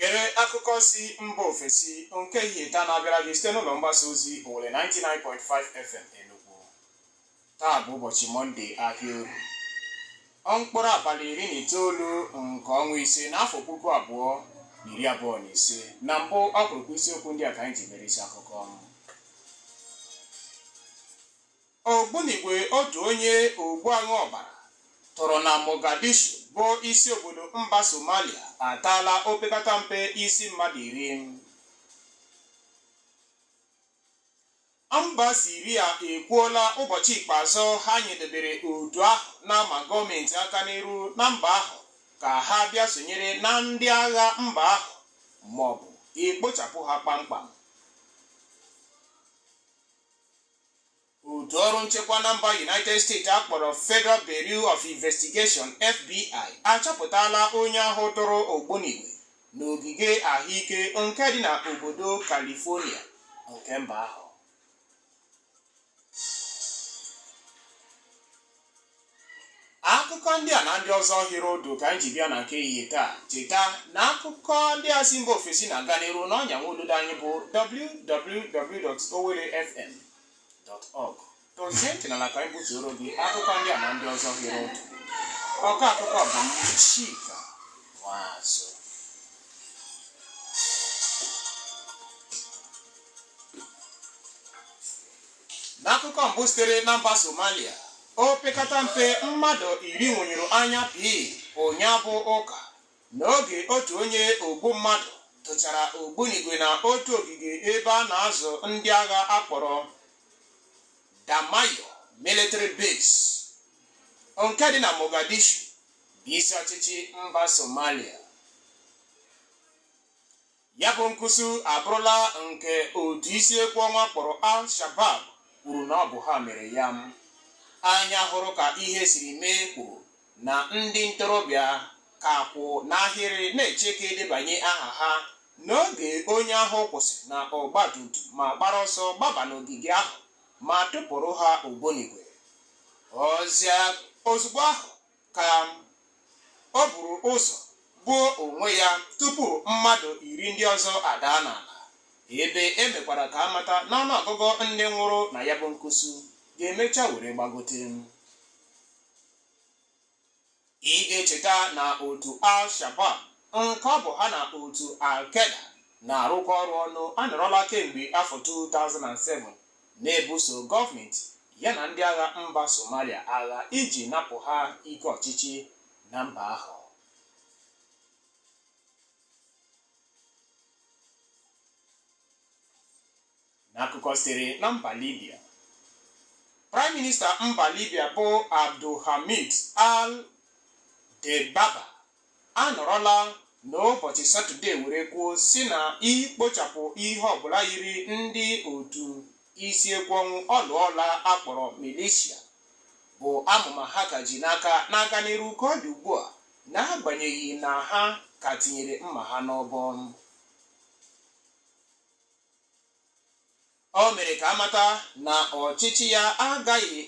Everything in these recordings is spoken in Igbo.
Gere akụkọ si mba ofesi nke ehihie taa na-abịara gị site n'ụlọ mgbasa ozi Owelle 99.5 FM Enugu. Taa bụ ụbọchị Mọnde ahịa Orie, mkpụrụ abalị iri na itoolu nke ọnwa ise n'afọ puku abụọ na iri abụọ na ise. Na mbụ ọkpụrụkpụ isiokwu ndị a ka anyị ji mere isi akụkọ. Ogbunigwe otu onye ogbu aṅụ ọbara tụrụ na Mogadishu bụ isi obodo mba Somalia ataala opekata mpe isi mmadụ iri. Mba Siria ekwuola ụbọchị ikpeazụ ha nyedebere otu ahụ na-ama gọọmenti aka n'iru na mba ahụ ka ha bịa sonyere na ndị agha mba ahụ maọbụ ikpochapụ ha kpamkpam. otu ọrụ nchekwa na mba united states akpọrọ federal bureau of investigation fbi achọpụtala onye ahụ tụrụ ogbunigwe n'ogige ahụike nke dị na obodo california nke mba ahụ akụkọ ndị a na ndị ọzọ hiri ụdụ ka anyị ji bịa na nke ehihie taa cheta na akụkọ ndị a si mba ofesi na-aga n'iru n'ọnya nwa ududo anyị bụ www.owellefm.org dozie ntị n'ala ka anyị butuoro gị akụkọ ndị a na ndị ọzọ hiri ụdụ ọkọ akụkọ bụ m Chika Nwazo n'akụkọ mbụ sitere na mba somalia o pekata mpe mmadụ iri nwụnyụrụ anya pii ụnyaa bụ ụka n'oge otu onye ogbu mmadụ tụchara ogbunigwe na otu ogige ebe a na-azụ ndị agha akpọrọ damayo military base nke dị na mogadishu bụ isi ọchịchị mba somalia Ya bụ nkụsu abụrụla nke otu isi ekwe ọnwụ a kpọrọ Al-Shabab kwuru na ọ bụ ha mere ya. Anya hụrụ ka ihe siri mee kwuru na ndị ntorobịa ka kwụ n'ahịrị na-eche ka edebanye aha ha n'oge onye ahụ kwụsị na ọgbatumtum ma gbara ọsọ gbaba n'ogige ahụ ma tụpụrụ ha ogbunigwe. Ọ sị na ozugbo ahụ ka o buru ụzọ gbuo onwe ya tupu mmadụ iri ndị ọzọ adaa n'ala ebe e mekwara ka a mata na ọnụọgụgụ ndị nwụrụ na ya bụ nkusu ga-emecha were gbagote ị ga-echeta na otu al-shabab nke ọ bụ ha na otu al-qaeda na-arụkọ ọrụ ọnụ anọrọla kemgbe afọ 2007 na-ebuso gọọmenti ya na ndị agha mba Somalia agha iji napụ ha ike ọchịchị na mba ahụ. N'akụkọ sitere na mba Libya, Praịm Minista mba Libya bụ Abdulhamid al-Debaba anọrọla n'ụbọchị Satọde were kwuo sị na ikpochapụ ihe ọbụla yiri ndị otu isi ekwe ọnwụ ọlụọla a kpọrọ milishia bụ amụma ha ka ji n'aka na-aga n'iru ka ọ dị ugbu a n'agbanyeghị na ha ka tinyere mma ha n'ọbọ O mere ka a mata na ọchịchị ya agaghị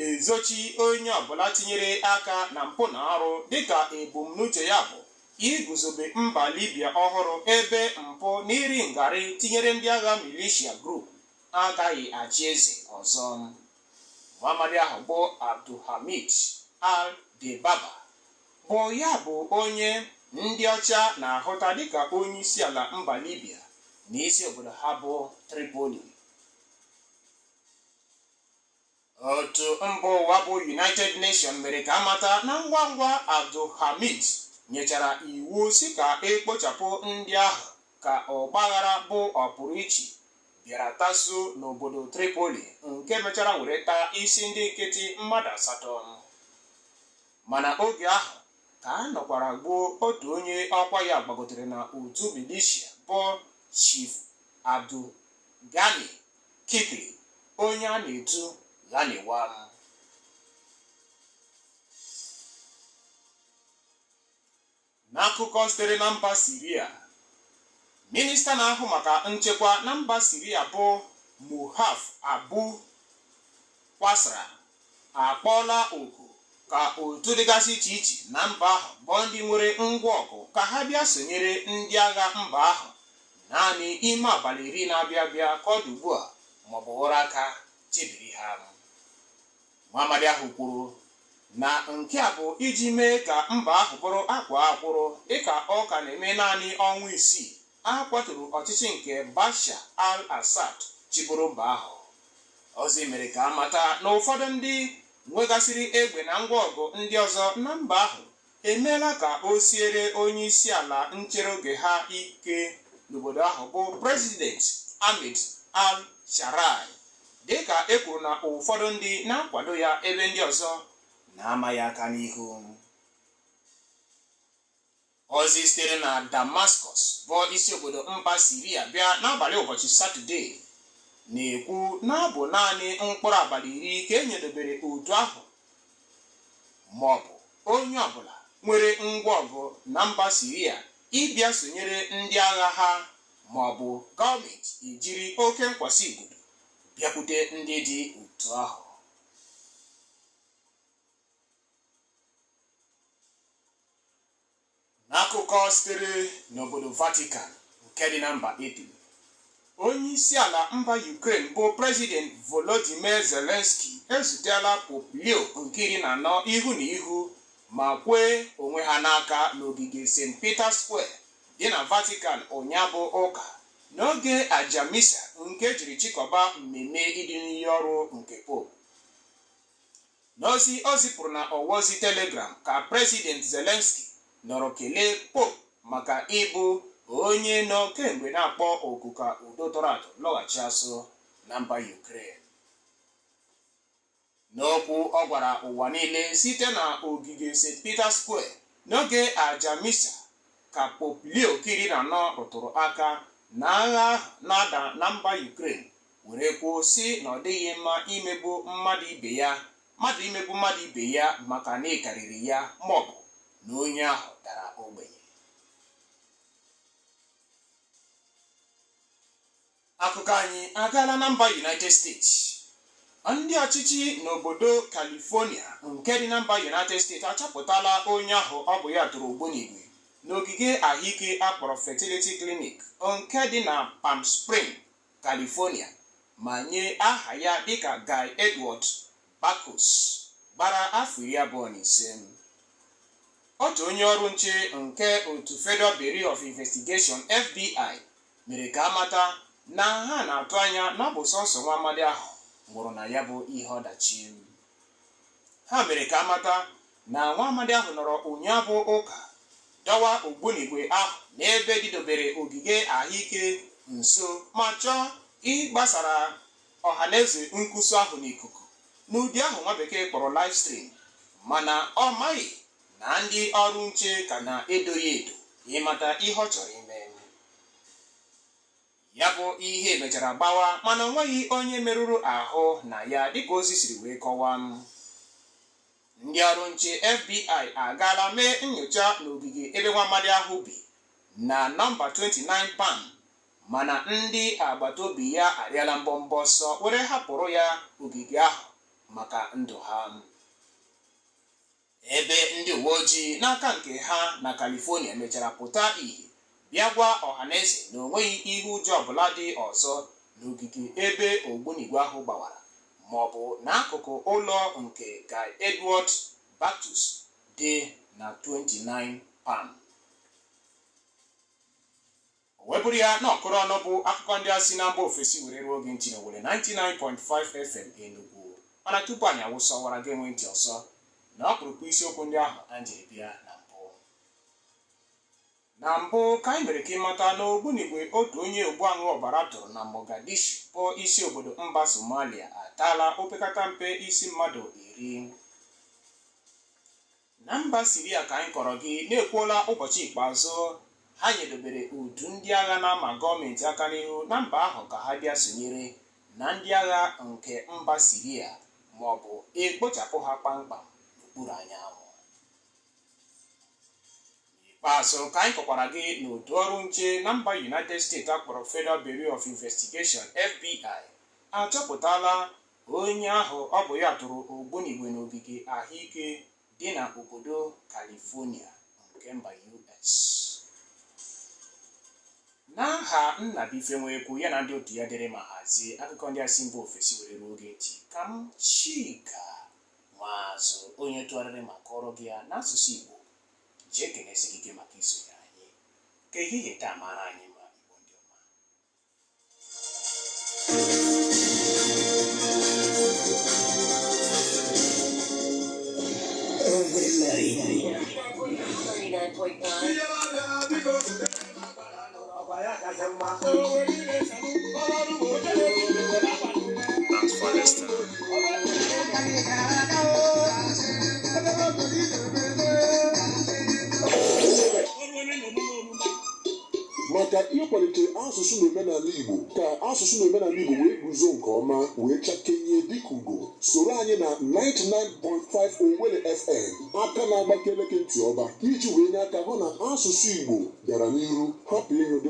ezochi onye ọbụla tinyere aka na mpụ na arụ dịka ebumnuche ya bụ iguzobe mba Libya ọhụrụ ebe mpụ na iri ngarị tinyere ndị agha militia group agaghị achị eze ọzọ. Nwamadị ahụ bụ Abdulhamid al-Debaba bụ ya bụ onye ndị ọcha na-ahụta dịka onye isi ala mba Libya na isi obodo ha bụ Tripoli otu mba ụwa bụ United Nations mere ka a mata na ngwa ngwa Abdulhamid nyechara iwu sị ka e kpochapụ ndị ahụ ka ọgbaghara bụ ọpụrụ iche bịara taso n'obodo Tripoli nke mechara were taa isi ndị nkịtị mmadụ asatọ Mana oge ahụ ka a nọkwara gbuo otu onye ọkwa ya gbagotere na otu milishia bụ Chief Abdul Ghani Kikli onye a na-etu Ghaniwa. N'akụkọ sitere na mba Siria, minista na-ahụ maka nchekwa na mba Siria bụ Murhaf Abu Qasra akpọọla oku ka otu dịgasị iche iche na mba ahụ bụ ndị nwere ngwa ọgụ ka ha bịa sonyere ndị agha mba ahụ naanị ime abalị iri na-abịa abịa ka ọ dị ugbu a maọbụ ụra aka chebiri ha Nwamadị ahụ kwuru na nke a bụ iji mee ka mba ahụ bụrụ akwaa akwụrụ dịka ọ ka na-eme naanị ọnwa isii a kwaturu ọchịchị nke Bashar al-Assad chịburu mba ahụ. Ozi mere ka a mata na ụfọdụ ndị nwegasịrị egbe na ngwa ọgụ ndị ọzọ na mba ahụ emeela ka o siere onye isi ala nchere oge ha ike n'obodo ahụ bụ President Ahmed al-Sharaa dịka e kwuru na ụfọdụ ndị na-akwado ya ebe ndị ọzọ na-ama ya aka n'ihu ozi sitere na Damascus bụ isi obodo mba Siria bịa n'abalị ụbọchị Satọde na-ekwu na ọ bụ naanị mkpụrụ abalị iri ka e nyedobere otu ahụ ma ọ bụ onye ọbụla nwere ngwa ọgụ na mba Siria ịbịa sonyere ndị agha ha ma ọ bụ gọọmenti ejiri oke nkwasị igodo bịakwute ndị dị otu ahụ N'akụkọ sitere n'obodo Vatican nke dị na mba Italy, onye isi ala mba Ukraine bụ President Volodymyr Zelensky ezutela Pope Leo nke iri na anọ ihu na ihu ma kwee onwe ha n'aka n'ogige St. Peter Square dị na Vatican ụnyaa bụ ụka n'oge aja misa nke e jiri chịkọba mmemme idu n'iyi ọrụ nke Pope. N'ozi o zipụrụ na ọwa ozi Telegram ka President Zelensky nọrọ kelee Pope maka ịbụ onye nọ kemgbe na-akpọ oku ka udo tọrọ atọ lọghachi azụ na mba Ukraine. N'okwu ọ gwara ụwa niile site na ogige St. Peter Square n'oge aja misa ka Pope Leo nke iri na anọ rụtụrụ aka na agha ahụ na-ada na mba Ukraine were kwuo sị na ọ dịghị mma ime mmadụ imegbu mmadụ ibe ya maka na ị karịrị ya maọbụ na onye ahụ dara ogbenye akụkọ anyị agaala na mba united states ndị ọchịchị n'obodo california nke dị na mba united states achọpụtala onye ahụ ọ bụ ya tụrụ ogbunigwe n'ogige ahụike a kpọrọ fertility clinic nke dị na palm spring California ma nye aha ya dịka Guy Edward Bartkus gbara afọ iri abụọ na ise. Otu onye ọrụ nche nke otu Federal Bureau of Investigation, FBI, mere ka a mata na ha na-atụ anya na ọ bụ sọnsọ nwa amadi ahụ nwụrụ na ya bụ ihe ọdachi. Ha mere ka a mata na nwa amadi ahụ nọrọ ụnyaa bụ ụka dọwa ogbunigwe ahụ n'ebe dịdobere ogige ahụike nso ma chọọ ịgbasara ọhaneze nkwusa ahụ n'ikuku n'ụdị ahụ nwa bekee kpọrọ live stream mana ọ maghị na ndị ọrụ nche ka na-edo ya edo ịmata ihe ọ chọrọ ime ya bụ ihe mechara gbawa mana o nweghị onye merụrụ ahụ na ya dịka ozi siri wee kọwaa ndị ọrụ nche FBI agaala mee nyocha n'ogige ebe nwa amadi ahụ bi na nọmba 29 Palm mana ndị agbata obi ya arịala mbọmbọ ọsọ were hapụrụ ya ogige ahụ maka ndụ ha ebe ndị uwe ojii n'aka nke ha na California mechara pụta ihe bịa gwa ọhaneze na o nweghị ihe ụjọ ọbụla dị ọzọ n'ogige ebe ogbunigwe ahụ gbawara maọbụ n'akụkụ ụlọ nke Guy Edward Bartkus dị na 29 Palm. O wee bụrụ ya na ọkụrụ ọnụ bụ akụkọ ndị a si na mba ofesi were ruo gị ntị n'Owelle 99.5 FM Enugu mana tupu anyị awụsa ọwara geenụ ntị ọzọ na ọkpụrụkpụ isiokwu ndị ahụ anyị jiri bịa na Na mbụ, ka anyị mere ka ị mata na ogbunigwe otu onye ogbu aṅụ ọbara tụrụ na Mogadishu bụ isi obodo mba Somalia ataala opekata mpe isi mmadụ iri. Na mba Siria ka anyị kọọrọ gị na ekwuola ụbọchị ikpeazụ ha nyedobere otu ndị agha na-ama gọọmenti aka n'ihu na mba ahụ ka ha bịa sonyere na ndị agha nke mba Siria ma ọ bụ e kpochapụ ha kpamkpam n'okpuru anyanwụ. n'ikpeazụ ka anyị kọkwaara gị na otu ọrụ nche na mba united states a kpọrọ federal bureau of investigation fbi achọpụtala onye ahụ ọ bụ ya tụrụ ogbunigwe n'ogige ahụike dị na obodo california nke mba us n'aha nnabuife nwekwu ya na ndị otu ya dere ma hazie akụkọ ndị a si mba ofesi were ruo gị ntị ka m chika Maazị onye tụgharịrị ma kọọrọ gị ya n'asụsụ Igbo ji ekele sị gị ike maka isonyere anyị ka ehihie taa mara anyị mma Igbo ndị ọma Urban Melody. 99.9. maka ịkwalite asụsụ na omenala Igbo ka asụsụ na omenala Igbo wee guzo nke ọma wee chakenye dịka ugo soro anyị na 99.5 Owelle FM aka na-agbakele gị ntị ọba ka iji wee nye aka hụ na asụsụ Igbo gara n'iru hapụ ịnwụ